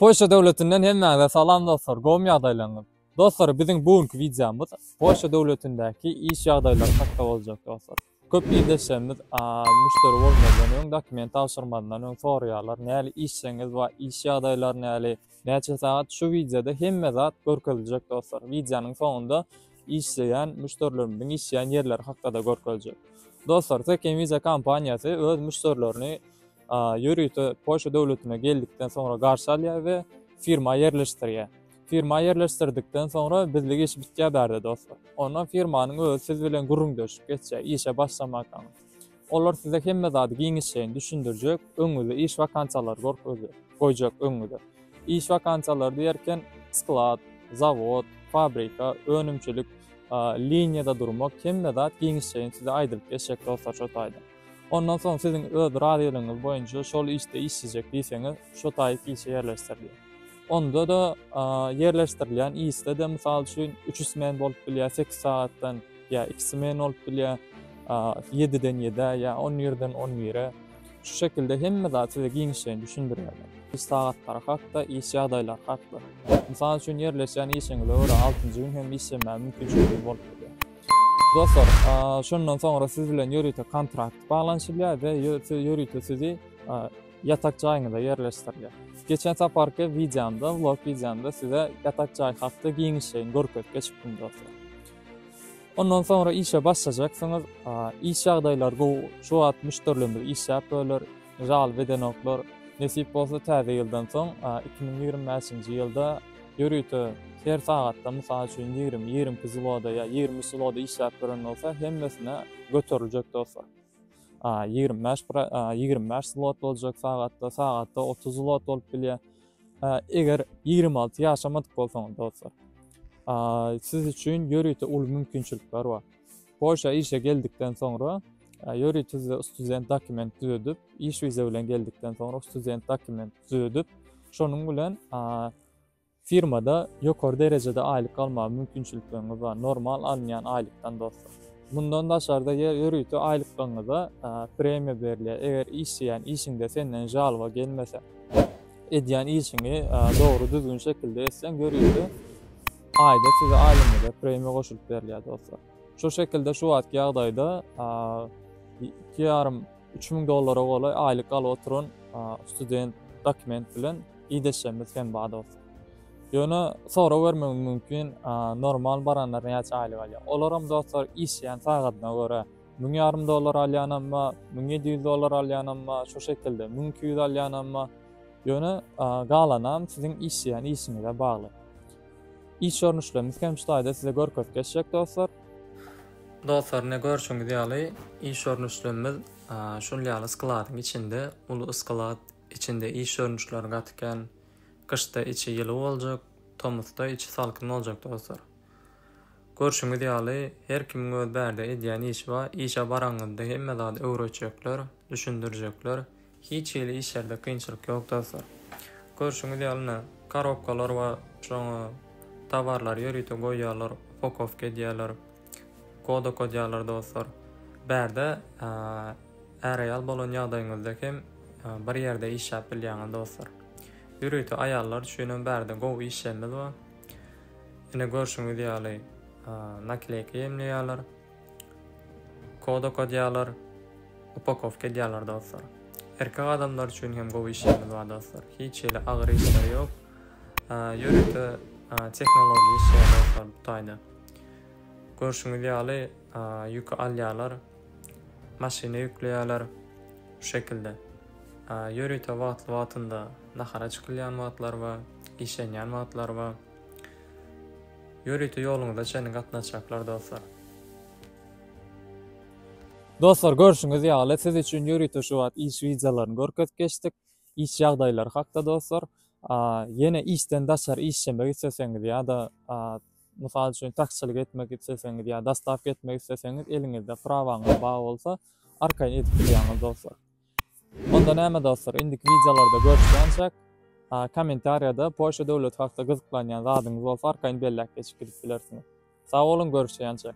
Polşa döwletinden hemmäňize salam dostlar gowmy ýagdaýlaryňyz? Dostlar biziň bu günki wideomyz Polşa döwletindäki iş ýagdaýlary hakda boljak dostlar. Köp ildeşlerimiz müşderi bolmazdan öň dokument tabşyrmazdan öň soraýarlar näli işjeňiz bar iş ýagdaýlary näli näçe sagat şu wideoda hemme zat görkeziljek dostlar. Wideonyň soňunda işleýän müşderilerimiziň işleýän ýerleri hakda-da görkeziljek. Dostlar Tekem Visa kompaniýasy öz müşderilerini ýörite Polşa döwletine geldikden soňra garşy alýar we firma ýerleşdirýär. Firma ýerleşdirdikden soňra bizlik iş bitýär bärde dostlar. Ondan firmanyň özi siz bilen gürrüňdeşip geçýär işe başlamarkaň. Olar size hemme zady giňişleýin düşündirjek, öňüňizde iş wakansiýalary görkezjek, goýjak öňüňize. Iş wakansiýalary diýerken sklad, zawod, fabrika, önümçilik liniýada durmak hemme zat giňişleýin size aýdylyp geçjek dostlar şo taýdan. Ondan soň siziň öz razylygyňyz boýunça şol işde işlejek diýseňiz, şo taýyk işe ýerleşdirilýär. Onda-da ýerleşdirilýän işde-de mysal üçin üç smen bolup bilýär, sekiz sagatdan ýa iki smen bolup bilýär, ýediden ýedä ýa on birden on bire. Şu şekilde hemme zat size giňişleýin düşündirýärler. Iş sagatlary hakda, iş ýagdaýlary hakda. Mysal üçin ýerleşýän işiňize görä altynjy gün hem işlemäge mümkinçiligiňiz bolup bilýär. Dostlar, şondan soňra siz bilen ýörite kontrakt baglanyşylýar we ýörite sizi ýatak jaýyňyza ýerleşdirilýär. Geçen saparky wideomda, vlog wideomda size ýatak jaý hakda giňişleýin görkezip geçipdim dostlar. Ondan soňra işe başlajaksyňyz. Iş ýagdaýlary gowy. Şu wagt müşderilerimiz işläp böler. Žal bedenoklar, nesip bolsa täze ýyldan soň iki müň ýigrimi bäşinji ýylda ýörite her sagatda mysal üçin ýigrimi, ýigrimi iki zloda ýa ýigrimi üç zloda işläp gören bolsa hemmesine göteriljek dostlar. Ýigrimi bäş ýigrimi bäş zlot boljak sagatda, sagatda otuz zlot bolup bilýär. Eger ýigrimi alty ýaşamadyk bolsaňyz dostlar, siz üçin ýörite uly mümkinçilikler bar. Polşa işe geldikden soňra, Ýuriý Tüze student dokument düzedip, iş wiza bilen geldikden soňra student dokument düzedip, şonuň bilen firmada ýokary derejede aýlyk almaga mümkinçilikleriňiz bar, normal alynýan aýlykdan dostlar. Mundan daşarda ýörite aýlyklygyňyza premiýa berilýär, eger işleýän işiňde senden žalba gelmese, edýän işiňi dogry düzgün şekilde etseň ýörite Aýda size aýlymyza premiýa goşulyp berilýär dostlar. Şu şekilde şu wagtky ýagdaýda 2,5 3000 dollara golaý aýlyk alyp oturan student dokument bilen ideshimiz hem bar dostlar. Ýöne sorag bermegim mümkin, normal baranlar näçe aýlyk alýar? Olar hem dostlar işleýän sagadyna görä. Müň ýarym dollar alýanam bar, müň ýedi ýüz dollar alýanam bar, şu şekilde müň iki ýüz alýanam bar. Ýöne galanam siziň işleýän işiňize bagly. Iş görnüşlerimiz hem şu taýda size görkezip geçjek dostlar. Dostlar, ine görşüňiz ýaly iş görnüşlerimiz şul ýaly skladyň içinde, uly sklad içinde iş görnüşleri gaty kän. Gyşda içi ýyly boljak, tomusda içi salkyn boljak dostlar. Görşüňiz ýaly, her kimiň öz bärde edýän işi bar, işe baraňyzda hemme zady öwretjekler, düşündirjekler, hiç hili işlerde kynçylyk ýok dostlar. Görşüňiz ýaly ine, korobkalar bar, şoňa towarlary ýörite goýýarlar, upakowka edýärler, kod okadýarlar dostlar. Bärde är-aýal bolan ýagdaýyňyzda hem bir ýerde işläp bilýäňiz dostlar. Ýörite aýallar üçin hem bärde gowy işlerimiz bar. Ine görşüňiz ýaly nakleýka ýemleýärler, kod okadýarlar, upakowka edýärler dostlar. Erkek adamlar üçin hem gowy işlerimiz bar dostlar. Hiç ýeli agyr işleri ýok. Ýörite tehnologiýa işleri dostlar bu taýda. Görşüňiz ýaly ýüki alýarlar, maşyna ýükleýärler şu şekilde. Ýörite wagtly wagtynda nahara çykylýan wagtlar bar. işlenýän wagtlary bar. Ýörite ýoluňyza çenli gatnaşjaklar dostlar. Dostlar görşüňiz ýaly siz üçin ýörite şu wagt iş widjalaryny görkezip geçdik. Iş ýagdaýlary hakda dostlar. Ýene işden daşary işlemek isleseňiz ýa-da mysal üçin taksiçilik etmek isleseňiz ýa dostawka etmek isleseňiz eliňizde prawaňyz bar bolsa arkaýyn edip bilýäňiz dostlar. Onda näme dostlar indiki wideolarda görüşýänçäk kommentariýada Polşa döwleti hakda gyzyklanýan zadyňyz bolsa arkaýyn belläp geçip gidip bilersiňiz. Sag boluň görüşýänçäk.